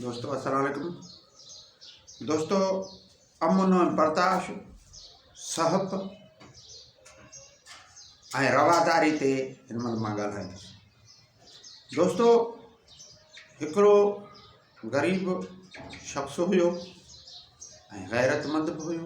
دوستو السلام عليڪم دوستو امن ۽ برداشت صحب ۽ رواداري تي هن مهل مان ڳالهائيندس دوستو هڪڙو غريب شخص هيو ۽ غيرتمند به هيو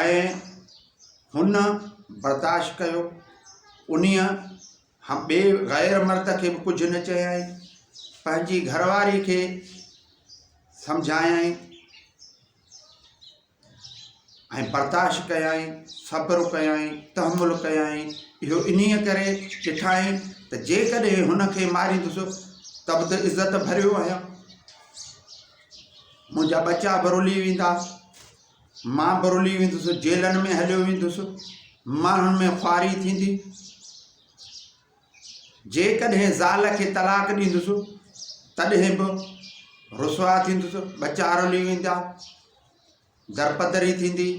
۽ هن برداشت ڪيو. انهيء ٻئي غير مرد کي به ڪجهه نه چيائين. پنهنجي گهر واري کي سمجهايائين ۽ برداشت ڪيائين، صبر ڪيائين، تحمل ڪيائين. اهو انهيء ڪري ڏٺائين ته جيڪڏهن هن کي ماريندس ته به ته عزت ڀريو آهيان. منهنجا ٻچا به رلي ويندا. مان برلي ويندس، جيلن ۾ هليو ويندس، ماڻهن ۾ خواري ٿيندي. جيڪڏهن زال کي طلاق ڏيندس تڏهن به رسوا ٿيندس، ٻچا رلي ويندا، درپدري ٿيندي،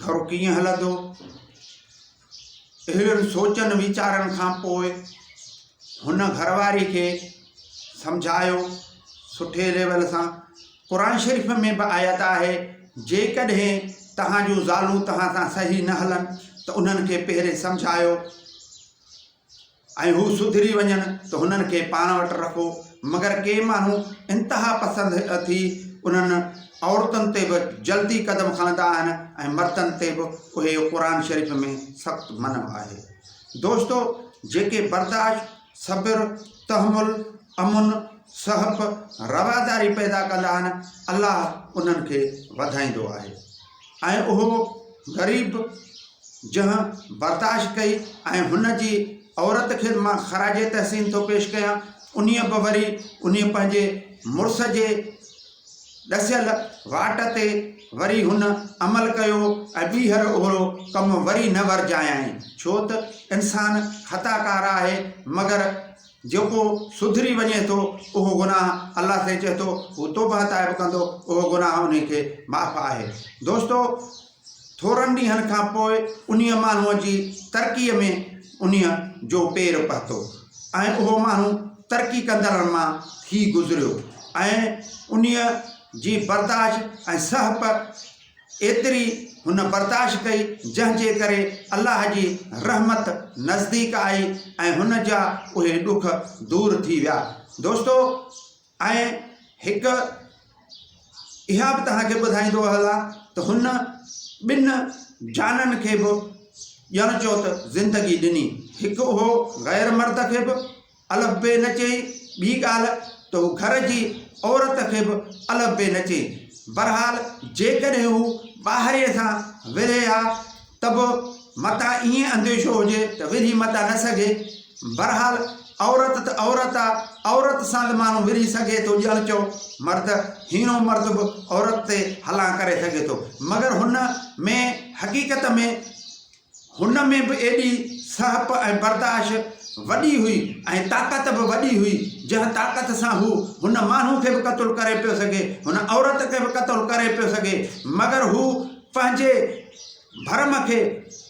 گهر ڪيئن هلندو؟ اهڙن سوچن ويچارن کان پوء هن گهرواري کي سمجهايو سٺي ليول سان قرآن شريف ۾ به آيت آهي جيڪڏهن توهان جون زالون توهان سان صحيح نه هلن ته انهن کي پهرين سمجهايو ۽ هو سڌري وڃن ته هنن کي پاڻ وٽ رکو، مگر ڪي ماڻهو انتها پسند ٿي انهن عورتن تي به جلدي قدم کڻندا آهن ۽ مردن تي به اهي قرآن شريف ۾ سخت منع آهي. دوستو! جيڪي برداشت، صبر، تحمل، امن، سهپ، رواداري پيدا ڪندا آهن، الله انهن کي وڌائيندو آهي. ۽ اهو غريب جنهن برداشت ڪئي ۽ هن جي عورت کي مان خراج تحسين ٿو پيش ڪيان انهي به وري انهي پنهنجي مڙس جي ڏسيل واٽ تي وري هن عمل ڪيو ۽ ٻيهر اهڙو ڪم وري نه ورجايائين ڇو ته انسان خطا ڪار آهي مگر جيڪو سڌري وڃي ٿو اهو گناهه الله کي چئي ٿو هو توبهه تائب ڪندو اهو گناهه انهي کي معاف آهي دوستو ٿورن ڏينهن کان پوء انهي ماڻهو جي ترقي ۾ انهي جو پير پهتو ۽ اهو ماڻهو ترقي ڪندڙن مان ٿي گذريو ۽ انهي جي برداشت ۽ سهپ ايتري هن برداشت ڪئي، جنهن جي ڪري الله جي رحمت نزديڪ آئي ۽ هن جا اهي ڏک دور ٿي ويا. دوستو! ۽ هڪ اها به توهان کي ٻڌائيندو هلان ته هن ٻن جانن کي به ڄڻ چئو ته زندگي ڏني. هڪ اهو غير مرد کي به. الف بي نه چئي، ٻي ڳالهه ته هو گهر جي عورت کي به الف بي نه چئي. بهرحال جيڪڏهن هو ٻاهري سان ورهي ها ته به متان ائين انديشو هجي ته ورهي متان نه سگهي. بهرحال عورت ته عورت آ، عورت سان ته ماڻهو ورهي سگهي ٿو ڄڻ چئو مرد، هيڻو مرد به عورت تي هلان ڪري سگهي ٿو. مگر هن ۾ حقيقت ۾. هن ۾ به ايڏي سهپ ۽ برداشت وڏي هئي ۽ طاقت به وڏي هئي، جنهن طاقت سان هو هن ماڻهو کي به قتل ڪري پيو سگهي، هن عورت کي به قتل ڪري پيو سگهي، مگر هو پنهنجي ڀرم کي،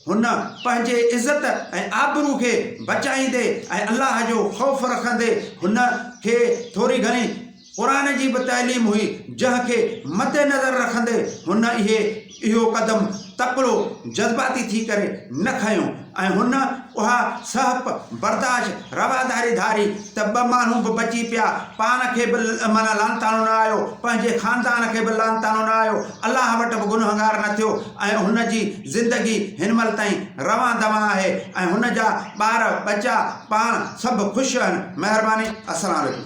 هن پنهنجي عزت ۽ آبرو کي بچائيندي ۽ الله جو خوف رکندي هن کي ٿوري گهڻي قرآن جي به تعليم هئي، جنهن کي مد نظر رکندي هن اهي اهو قدم تڪڙو جذباتي ٿي ڪري نه کنيو ۽ هن اها سهپ برداشت رواداري ڌاري ته ٻه ماڻهو به بچي پيا، پاڻ کي به معنيٰ لعنتاڻو نه آيو، پنهنجي خاندان کي به لعنتاڻو نه آيو، الله وٽ به گنهگار نه ٿيو ۽ هن جي زندگي هن مهل تائين روان دوان آهي ۽ هن جا ٻار ٻچا پاڻ سڀ خوش آهن. مهرباني. السلام عليڪم.